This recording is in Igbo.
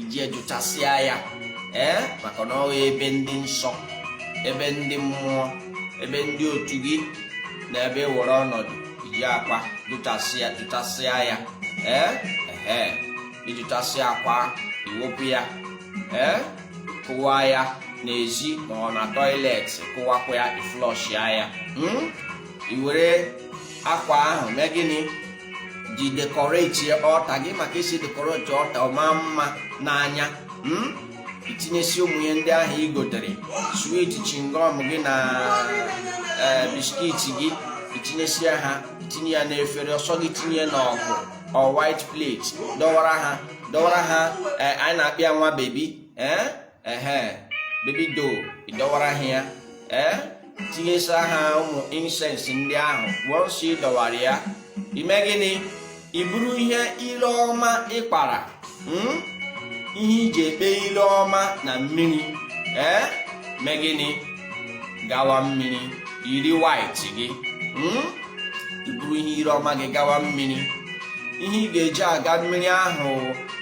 iji jụchasịa ya ee maka na ọ wụ ebe ndị nsọ ebe ndị mmụọ ebe ndị otu gị na ebe were ọnọdụ iji akwa jụchasịa jụchasịa ya ee ee ị jụchasịa akwa i wepụ ya ee kụwaa ya n'ezi ma ọ na toilet kụwakwa ya i flushia ya hmm? i were akwa ahụ mee gịnị ji decorate altar gị maka e si decorate altar ọ maa mma n'anya hmm? i tinyesịa ụmụ ihe ndị ahụ i gotere sweet chewing gum gị na e, biscuit gị i tinyesịa ha i tinye ya n'efere ọ sọ gị tinye n'ọkụ or white plate dọwara ha dọwara ha e, anyị na-akpọ ya nwa baby ee eh? ehe baby doll ị dọwara ha ya ee eh? tinyesịa ha ụmụ incense ndị ahụ once ị dọwara ya i mee gịnị i buru ihe ile ọma ị kpara hmm? ihe i ji ekpe ile ọma na mmiri ee eh? mee gịnị gawa mmiri i yiri white gị hmm? i buru ihe ire ọma gị gawa mmiri ihe ị ga-eji aga mmiri ahụ